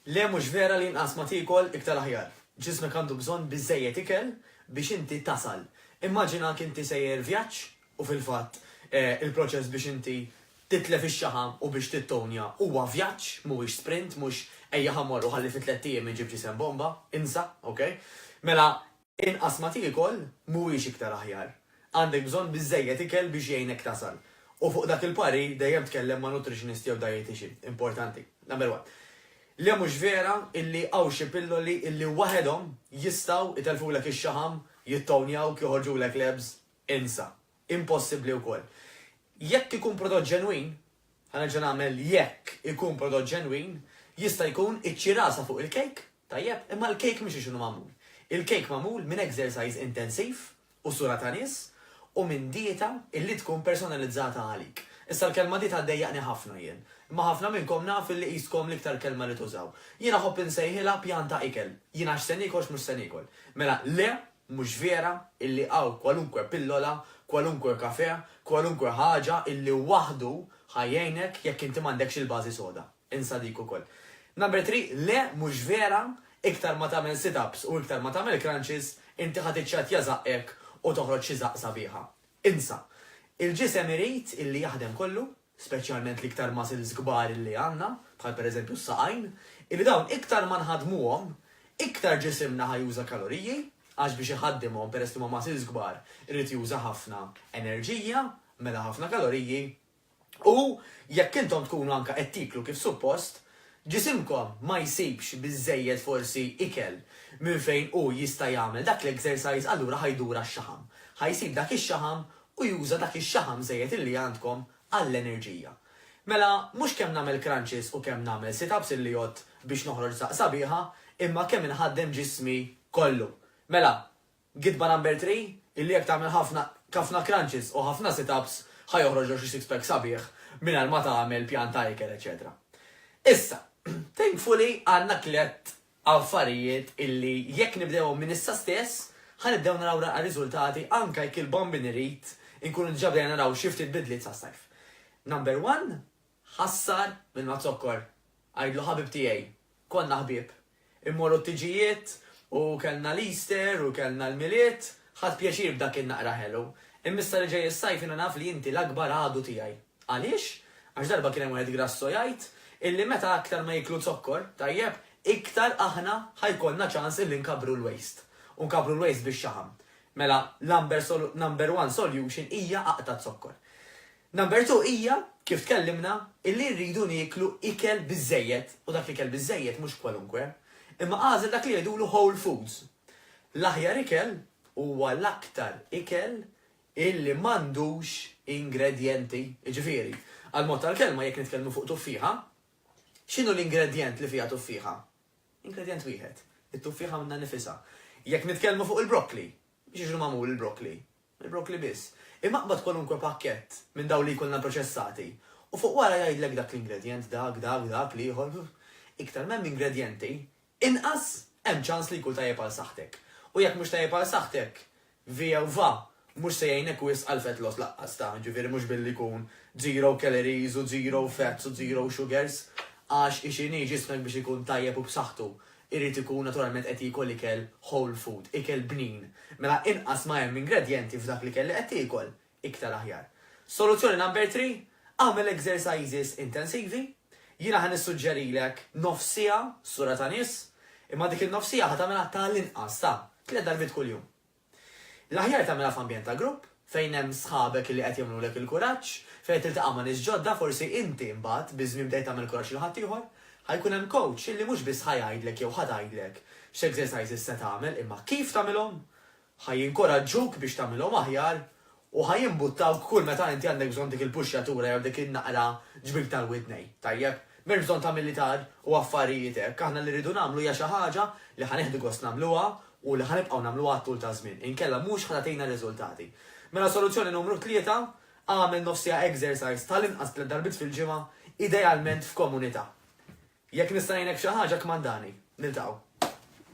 Le mhux vera li inqas ma tiekol iktar aħjar. Ġismek għandu bżonn biżżejjed ikel biex inti tasal. Immaġinak inti sejjer vjaġġ u fil-fatt il-proċess biex inti titlef ix-xaħam u biex tittonja huwa vjaġġ mhuwiex sprint mhux ejja ħa mmorru ħalli fi tlett ijiem inġib ġisem bomba, insa, ok? Mela Inqas ma tiekol mhuwiex iktar aħjar. Għandek bżonn biżżejjed ikel biex jgħinek tasal. U fuq dak il-parir dejjem tkellem ma' nutritionist jew dietician. Importanti. Number one. Le mhux vera illi hawn xi pilloli illi waħedhom jistgħu itellfulek ix-xaħam, jittownjawk, joħorġulek l-abs. Insa. impossibbli wkoll. Jekk ikun prodott ġenwin, ħa nerġa' nagħmel jekk ikun prodott ġenwin, jista' jkun iċ-ċirasa fuq il-kejk, tajjeb, imma l-kejk mhux hekk inhu magħmul. Il-kejk magħmul minn exercise intensiv u sura ta' nies u minn dieta illi tkun personalizzata għalik. Issa l-kelma dieta ddejjaqni ħafna jien, imma ħafna minnkom naf illi qiskom l-iktar kelma li tużaw. Jien nħobb insejħilha pjan ta' ikel. Jien għax se niekol x'mhux se niekol. Mela, le, Mhux vera illi hawn kwalunkwe pillola, kwalunkwe kafè, kwalunkwe ħaġa illi waħdu ħa jgħinek jekk inti m'għandekx il-bażi soda. Insa dik ukoll. Number three, le mhux vera, iktar ma tagħmel sit-ups u iktar ma tagħmel crunches, inti ħa tiċċattja żaqqek u toħroġ xi żaqq sabiħa. Insa. Il-ġisem irid illi jaħdem kollu. speċjalment l-iktar muscles kbar illi għandna, bħal pereżempju s-saqajn, illi dawn iktar ma nħaddmuhom, iktar ġisimna ħa juża kaloriji, għax biex iħaddimhom peress li huma muscles kbar irid juża ħafna enerġija, mela ħafna kaloriji, u jekk intom tkunu anke qed tieklu kif suppost, ġisimkom ma jsibx biżżejjed forsi ikel minn fejn hu jista' jagħmel dak l-exercise allura ħa jdur għax-xaħam. Ħa jsib dak ix-xaħam u juża dak ix-xaħam żejjed illi għandkom għall-enerġija. Mela mhux kemm nagħmel crunches u kemm nagħmel sit-ups illi għodt biex noħroġ daqq sabiħa, imma kemm inħaddem ġismi kollu. Mela, gidba number three, illi jekk tagħmel ħafna kafna crunches u ħafna sit-ups ħa joħroġlok xi six-pack sabiħ mingħajr ma tagħmel pjan ta' ikel eċċetera. Issa, thankfully għandna tliet affarijiet illi jekk nibdewhom minn issa stess ħa nibdew naraw l-anqal riżultati anke jekk il-bombi nirrid inkunu diġà bdejna naraw xi ftit bidliet sas-sajf. Number one, Ħassar minn ma tzokkor. Għidlu ħabib tiegħi. Konna ħbieb. Immorru t-tiġijiet u kellna l-Easter u kellna l-Milied, ħadt pjaċir b'dak in-naqra ħelu. Imma issa li ġej is-sajf jiena naf li inti l-akbar għadu tiegħi. Għaliex? Għax darba kien hemm wieħed grasso jgħid illi meta aktar ma jieklu zokkor, tajjeb, iktar aħna ħa jkollna ċans illi nkabbru l-waste. U nkabbru l-waste bix-xaħam. Mela, l-amber solu, number one solution hija aqta' z-zokkor. Number two hija, kif tkellimna, illi rridu nieklu ikel biżżejjed, u dak l-ikel biżżejjed mhux kwalunkwe. Imma agħżel dak li jgħidulu whole foods. L-aħjar ikel huwa l-aktar ikel illi m'għandux ingredjenti. Jiġifieri, għal mod tal-kelma, jekk nitkellmu fuq tuffieħa, x'inhu l-ingredjent li fiha tuffieħa? Ingredjent wieħed, it-tuffieħa minnha nnifisha. Jekk nitkellmu fuq il-brokkli, x'jiġri magħmul il-brokkli? Il-brokkli biss. Imma qbad kwalunkwe pakkett minn dawn li jkollna proċessati u fuq wara jgħidlek dak l-ingredjent, dak, dak, dak, l-ieħor. Iktar m'hemm ingredjenti, Inqas, hemm ċans li jkun tajjeb għal saħħtek. U jekk mhux tajjeb għal saħħtek, view-va, mhux se jgħinek wisq għal fat loss laqqas ta', ġifieri mhux billi jkun zero calories u zero fats u zero sugars, għax hi x'inhi, ġismek biex ikun tajjeb u b'saħħtu, irid ikun naturalment qed jiekol ikel whole food, ikel bnin. Mela inqas ma hemm ingredjenti f'dak l-ikel li qed tiekol, iktar aħjar. Soluzzjoni number three, agħmel exercises intensivi. Jiena ħa nissuġġerilek nofs siegħa sura ta' nies, imma dik in-nofs siegħa ħa tagħmilha ta' l-inqas ta' tliet darbiet kuljum. L-aħjar tagħmilha f'ambjent ta' grupp, fejn hemm sħabek li qed jagħmlulek il-kuraġġ, fejn qed tiltaqa' ma' nies ġodda, forsi inti mbagħad biż-żmien bdejt tagħmel kuraġġ lil ħaddieħor. Ħa jkun hemm coach li mhux biss ħa jgħidlek jew ħa tgħidlek x'exercises se tagħmel imma kif tagħmilhom Ħa jinkoraġġuk biex tagħmilhom aħjar u ħa jimbuttawk kull meta inti għandek bżonn dik il-puxxjatura jew dik in-naqra ġbik tal-widnejn, tajjeb? M'hemmx bżonn ta' militar u affarijiet hekk, aħna li rridu nagħmlu hija xi ħaġa li ħa nieħdu gost nagħmluha u li ħa nibqgħu nagħmluha għat-tul taż-żmien, inkella mhux ħa tagħtina riżultati. Mela soluzzjoni numru tlieta, agħmel nofsiegħa exercise tal-inqas tliet darbiet fil-ġimgħa, idealment f'komunità. Jekk nista' ngħinek f'xi ħaġa kmandani. Niltaqgħu.